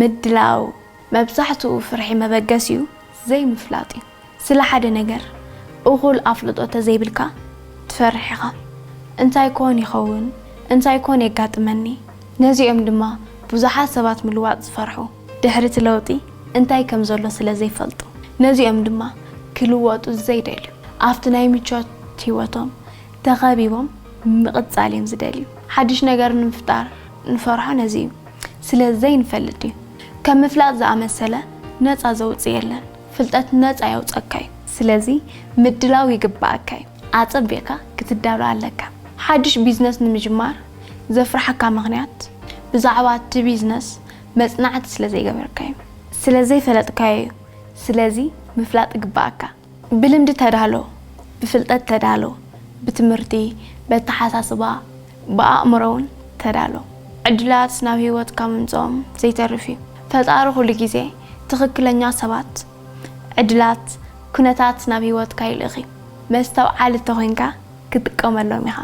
ምድላው መብዛሕትኡ ፍርሒ መበገሲኡ ዘይምፍላጥ እዩ። ስለ ሓደ ነገር እኹል ኣፍልጦ ተዘይብልካ ትፈርሕ ኢኻ። እንታይ ኮን ይኸውን? እንታይ ኮን የጋጥመኒ? ነዚ እዮም ድማ ብዙሓት ሰባት ምልዋጥ ዝፈርሑ። ድሕሪ እቲ ለውጢ እንታይ ከም ዘሎ ስለ ዘይፈልጡ። ነዚ እዮም ድማ ክልወጡ ዘይደልዩ። ኣብቲ ናይ ምቾት ህይወቶም ተኸቢቦም ምቕጻል እዮም ዝደልዩ። ሓድሽ ነገር ንምፍጣር ንፈርሖ ነዚ እዩ። ስለ ዘይንፈልጥ እዩ። ከም ምፍላጥ ዝኣመሰለ ነጻ ዘውጽእ የለን። ፍልጠት ነጻ የውጸካ እዩ። ስለዚ ምድላው ይግበኣካ እዩ። ኣጸቢቕካ ክትዳሎ ኣለካ። ሓድሽ ቢዝነስ ንምጅማር ዘፍርሓካ ምኽንያት ብዛዕባ እቲ ቢዝነስ መጽናዕቲ ስለ ዘይገበርካ እዩ። ስለ ዘይፈለጥካዮ እዩ። ስለዚ ምፍላጥ ይግበኣካ። ብልምዲ ተዳሎ፣ ብፍልጠት ተዳሎ፣ ብትምህርቲ፣ በተሓሳስባ፣ ብኣእምሮውን ተዳሎ። ዕድላት ናብ ህይወትካ ምምጽኦም ዘይተርፍ እዩ። ፈጣሪ ኩሉ ግዜ ትኽክለኛ ሰባት፣ ዕድላት፣ ኩነታት ናብ ህይወትካ ይልእኽ እዩ። መስተውዓሊ እንተኾይንካ ክትጥቀመሎም ኢኻ።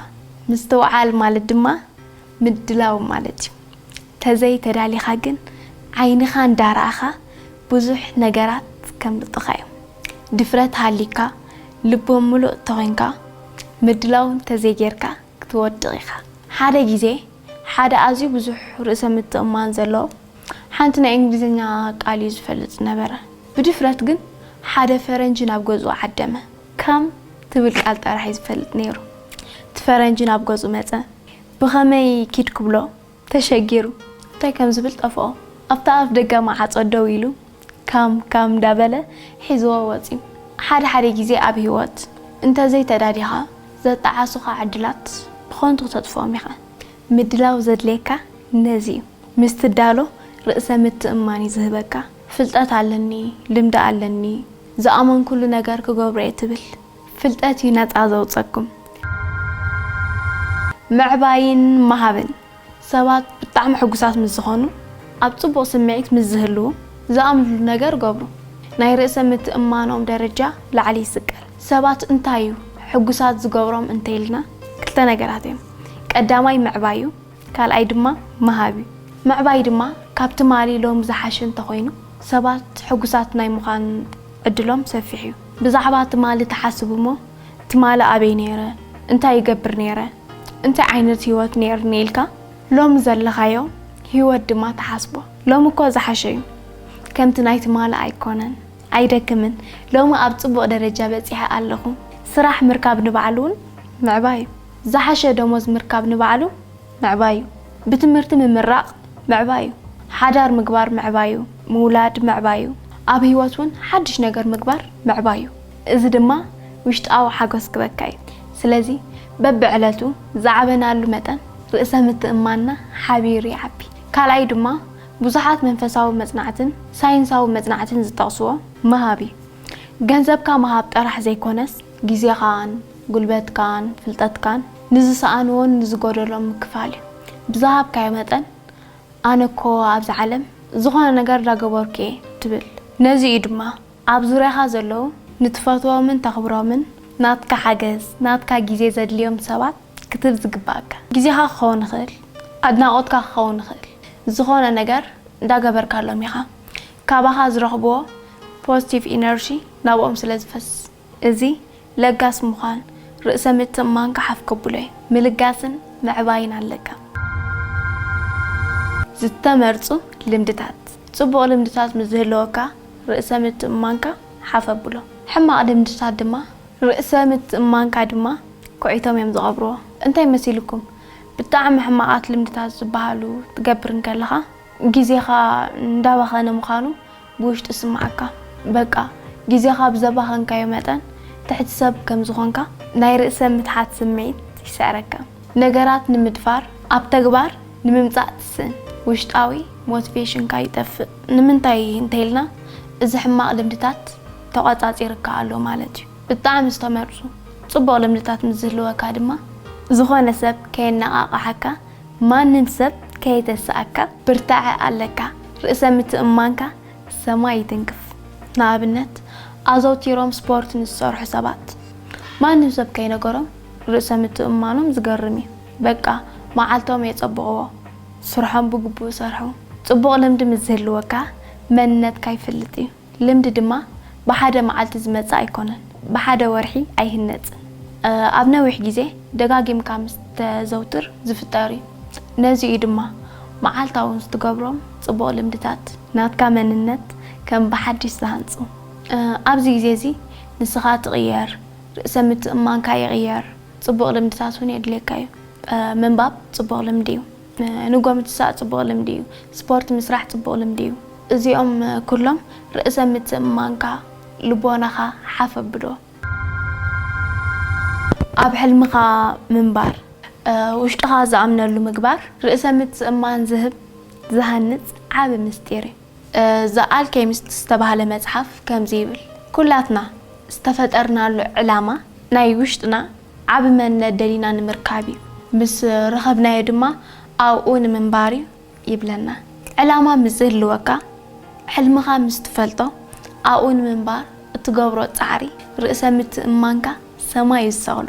ምስትውዓል ማለት ድማ ምድላው ማለት እዩ። ተዘይ ተዳሊኻ ግን ዓይንኻ እንዳረኣኻ ብዙሕ ነገራት ከምልጡኻ እዮም። ድፍረት ሃልዩካ ልቦ ምሉእ ተኾይንካ ምድላው እንተዘይ ጌርካ ክትወድቕ ኢኻ። ሓደ ግዜ ሓደ ኣዝዩ ብዙሕ ርእሰ ምትእምማን ዘለዎ ሓንቲ ናይ እንግሊዝኛ ቃል እዩ ዝፈልጥ ዝነበረ። ብድፍረት ግን ሓደ ፈረንጂ ናብ ገዝኡ ዓደመ። Come ትብል ቃል ጥራሕ እዩ ዝፈልጥ ኔሩ። እቲ ፈረንጂ ናብ ገዝኡ መጸ። ብኸመይ ኪድ ክብሎ? ተሸጊሩ እንታይ ከም ዝብል ጠፍኦ። ኣብታ ኣፍ ደገ መዓጾ ደው ኢሉ ካም ካም እንዳበለ ሒዝዎ ወጽዩ። ሓደ ሓደ ግዜ ኣብ ህይወት እንተ ዘይተዳሊኻ ዘጣዓሱኻ ዕድላት ብኸንቱ ክተጥፍኦም ኢኻ። ምድላው ዘድልየካ ነዚ እዩ። ምስ ትዳሎ ርእሰ ምትእምማን እዩ ዝህበካ። ፍልጠት ኣለኒ፣ ልምዲ ኣለኒ፣ ዝኣመንኩሉ ነገር ክገብሮ እየ ትብል። ፍልጠት እዩ ነጻ ዘውጸኩም። ምዕባይን ምሃብን፣ ሰባት ብጣዕሚ ሕጉሳት ምስ ዝኾኑ፣ ኣብ ጽቡቕ ስምዒት ምስ ዝህልዉ፣ ዝኣምንሉ ነገር ገብሩ። ናይ ርእሰ ምትእምማኖም ደረጃ ላዕሊ ይስቀል። ሰባት እንታይ እዩ ሕጉሳት ዝገብሮም እንተይልና ክልተ ነገራት እዮም። ቀዳማይ ምዕባይ እዩ። ካልኣይ ድማ ምሃብ እዩ። ምዕባይ ድማ ካብ ትማሊ ሎሚ ዝሓሸ እንተኾይኑ ሰባት ሕጉሳት ናይ ምዃን ዕድሎም ሰፊሕ እዩ። ብዛዕባ ትማሊ ትሓስብ እሞ ትማሊ ኣበይ ነይረ፣ እንታይ ይገብር ነይረ፣ እንታይ ዓይነት ህይወት ነይርኒ ኢልካ ሎሚ ዘለኻዮ ህይወት ድማ ትሓስቦ። ሎሚ እኮ ዝሓሸ እዩ ከምቲ ናይ ትማሊ ኣይኮነን፣ ኣይደክምን፣ ሎሚ ኣብ ፅቡቕ ደረጃ በፂሐ ኣለኹ። ስራሕ ምርካብ ንባዕሉ እውን ምዕባይ እዩ። ዝሓሸ ደሞዝ ምርካብ ንባዕሉ ምዕባይ'ዩ። ብትምህርቲ ምምራቕ ምዕባይ'ዩ። ሓዳር ምግባር ምዕባይ'ዩ። ምውላድ ምዕባይ'ዩ። ኣብ ህይወት ውን ሓድሽ ነገር ምግባር ምዕባይ'ዩ። እዚ ድማ ውሽጣዊ ሓጎስ ክበካ'ዩ። ስለዚ በብዕለቱ ዝዓበናሉ መጠን ርእሰ ምትእምማንና ሓቢሩ ይዓቢ። ካልኣዩ ድማ ብዙሓት መንፈሳዊ መጽናዕትን ሳይንሳዊ መጽናዕትን ዝጠቕስዎ ምሃብ'ዩ። ገንዘብካ ምሃብ ጥራሕ ዘይኮነስ፣ ግዜኻን ጉልበትካን ፍልጠትካን ንዝሰኣንዎን ንዝጎደሎን ምክፋል እዩ። ብዝሃብካዮ መጠን ኣነ እኮ ኣብዚ ዓለም ዝኾነ ነገር ዳገበርኩ እየ ትብል። ነዚ እዩ ድማ ኣብ ዙርያኻ ዘለዉ ንትፈትዎምን ተኽብሮምን ናትካ ሓገዝ፣ ናትካ ግዜ ዘድልዮም ሰባት ክትህብ ዝግበኣካ። ግዜኻ ክኸውን ይኽእል፣ ኣድናቖትካ ክኸውን ይኽእል፣ ዝኾነ ነገር ዳገበርካሎም ኢኻ። ካባኻ ዝረኽብዎ ፖዝቲቭ ኢነርጂ ናብኦም ስለዝፈስስ። እዚ ለጋስ ምዃን ርእሰ ምትእምማንካ ሓፍ ከብሎ እዩ። ምልጋስን ምዕባይን ኣለካ። ዝተመርጹ ልምድታት፣ ጽቡቕ ልምድታት ምስ ዝህልወካ ርእሰ ምትእምማንካ ሓፍ ኣብሎ። ሕማቕ ልምድታት ድማ። ርእሰ ምትእምማንካ ድማ ኩዒቶም እዮም ዝቐብርዎ። እንታይ መሲልኩም? ብጣዕሚ ሕማቓት ልምድታት ዝበሃሉ ክትገብር እንከለኻ ግዜኻ እንዳባኸነ ምዃኑ፣ ብውሽጢ ዝስምዓካ በቃ ግዜኻ ብዘባኸንካዮ መጠን ትሕቲ ሰብ ከም ዝኾንካ ናይ ርእሰ ምትሓት ስምዒት ይስዕረካ። ነገራት ንምድፋር ኣብ ተግባር ንምምጻእ ትስእን። ውሽጣዊ ሞትቬሽንካ ይጠፍእ። ንምንታይ እንተይልና እዚ ሕማቕ ልምድታት ተቖጻጺርካ ኣሎ ማለት እዩ። ብጣዕሚ ዝተመርጹ ጽቡቕ ልምድታት ምስ ዝህልወካ ድማ ዝኾነ ሰብ ከየነቓቕሓካ ማንም ሰብ ከየተሰኣካ ብርታዐ ኣለካ ርእሰ ምትእምማንካ ሰማይ ይትንክፍ ንኣብነት ኣዘውቲሮም ስፖርት ንዝሰርሑ ሰባት ማንም ሰብ ከይነገሮም ርእሰ ምትእምማኖም ዝገርም እዩ በቃ መዓልቶም የጸብቕዎ ስርሖም ብግቡእ ሰርሑ ጽቡቕ ልምዲ ምስ ዝህልወካ መንነትካ ይፍልጥ እዩ። ልምዲ ድማ ብሓደ መዓልቲ ዝመጽእ ኣይኮነን፣ ብሓደ ወርሒ ኣይህነጽን። ኣብ ነዊሕ ግዜ ደጋጊምካ ምስ እተዘውትር ዝፍጠር እዩ። ነዚ እዩ ድማ መዓልታዊ ምስ እትገብሮም ጽቡቕ ልምድታት፣ ናትካ መንነት ከም ብሓድሽ ዝሃንጹ። ኣብዚ ግዜ እዚ ንስኻ ትቕየር፣ ርእሰ ምትእምማንካ ይቕየር፣ ጽቡቕ ልምድታት እውን የድልየካ እዩ። ምንባብ ጽቡቕ ልምዲ እዩ። ንጎ ምትሳእ ጽቡቕ ልምዲ እዩ። ስፖርት ምስራሕ ጽቡቕ ልምዲ እዩ። እዚኦም ኩሎም ርእሰ ምትእምማንካ፣ ልቦናኻ፣ ሓፍ ኣብሎ። ኣብ ሕልምኻ ምንባር። ውሽጥኻ ዝኣምነሉ ምግባር ርእሰ ምትእምማን ዝህብ፣ ዝሃንጽ ዓቢ ምስጢር እዩ። ዘ ኣልኬሚስት ዝተባህለ መጽሓፍ ከምዚ ይብል፣ ኩላትና ዝተፈጠርናሉ ዕላማ ናይ ውሽጥና ዓቢ መንነት ደሊና ንምርካብ እዩ፣ ምስ ረኸብናዮ ድማ ኣብኡ ንምንባር እዩ ይብለና። ዕላማ ምስ ዝህልወካ፣ ሕልምኻ ምስ ትፈልጦ፣ ኣብኡ ንምንባር እትገብሮ ጻዕሪ ርእሰ ምትእምማንካ ሰማይ እዩ ዝሰቕሎ።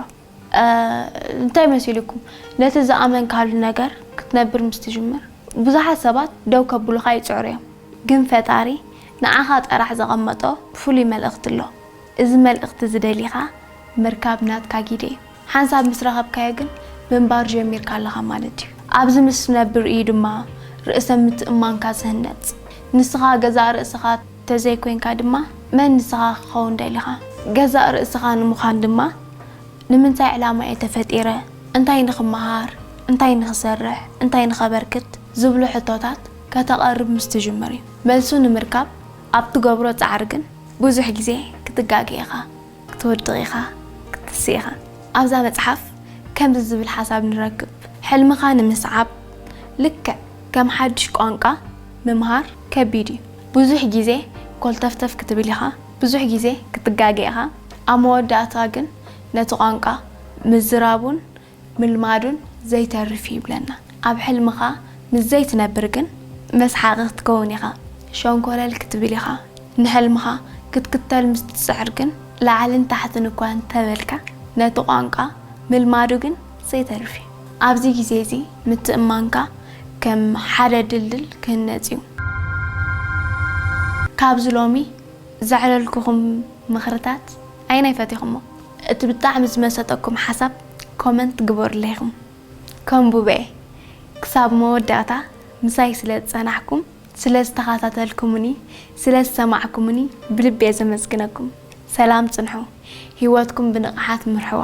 እንታይ መሲሉኩም ነቲ ዝኣመንካሉ ነገር ክትነብር ምስ ትጅምር ብዙሓት ሰባት ደው ከብሉኻ ይጽዕሩ እዮም ግን ፈጣሪ ንዓኻ ጠራሕ ዘቐመጦ ፍሉይ መልእኽቲ ኣሎ እዚ መልእኽቲ እዚ ደሊኻ ምርካብ ናትካ ጊደ እዩ ሓንሳብ ምስ ረኸብካዮ ግን ምንባር ጀሚርካ ኣለኻ ማለት እዩ ኣብዚ ምስ ትነብር እዩ ድማ ርእሰ ምትእምማንካ ዝህነጽ ንስኻ ገዛእ ርእስኻ ተዘይኮይንካ ድማ መን ንስኻ ክኸውን ደሊኻ? ገዛእ ርእስኻ ንምዃን ድማ ንምንታይ ዕላማ እየ ተፈጢረ? እንታይ ንኽመሃር? እንታይ ንኽሰርሕ? እንታይ ንኸበርክት? ዝብሉ ሕቶታት ከተቐርብ ምስ ትጅምር እዩ። መልሱ ንምርካብ ኣብ ትገብሮ ጻዕሪ ግን ብዙሕ ግዜ ክትጋገ ኢኻ። ክትወድቕ ኢኻ ክትትስእ ኢኻ። ኣብዛ መጽሓፍ ከምዚ ዝብል ሓሳብ ንረክብ፣ ሕልምኻ ንምስዓብ ልክዕ ከም ሓድሽ ቋንቋ ምምሃር ከቢድ እዩ። ብዙሕ ግዜ ኮልተፍተፍ ክትብል ኢኻ፣ ብዙሕ ግዜ ክትጋገ ኢኻ፣ ኣብ መወዳእታ ግን ነቲ ቋንቋ ምዝራቡን ምልማዱን ዘይተርፍ እዩ ይብለና ኣብ ሕልምኻ ምስ ዘይትነብር ግን መስሓቒ ክትከውን ኢኻ ሸንኮለል ክትብል ኢኻ ንሕልምኻ ክትክተል ምስ ትጽዕር ግን ላዕልን ታሕትን እኳ እንተበልካ ነቲ ቋንቋ ምልማዱ ግን ዘይተርፍ እዩ ኣብዚ ግዜ እዚ ምትእምማንካ ከም ሓደ ድልድል ክህነጽ እዩ ካብዚ ሎሚ ዘዕለልኩኹም ምኽርታት ኣየናይ ፈቲኹሞ? እቲ ብጣዕሚ ዝመሰጠኩም ሓሳብ ኮመንት ግበሩለይ ኢኹም ከንቡበ'የ። ክሳብ መወዳእታ ምሳይ ስለ ዝጸናሕኩም፣ ስለ ዝተኻታተልኩሙኒ፣ ስለ ዝሰማዕኩሙኒ ብልቢ'የ ዘመስግነኩም። ሰላም ጽንሑ፣ ሂወትኩም ብንቕሓት ምርሕዋ።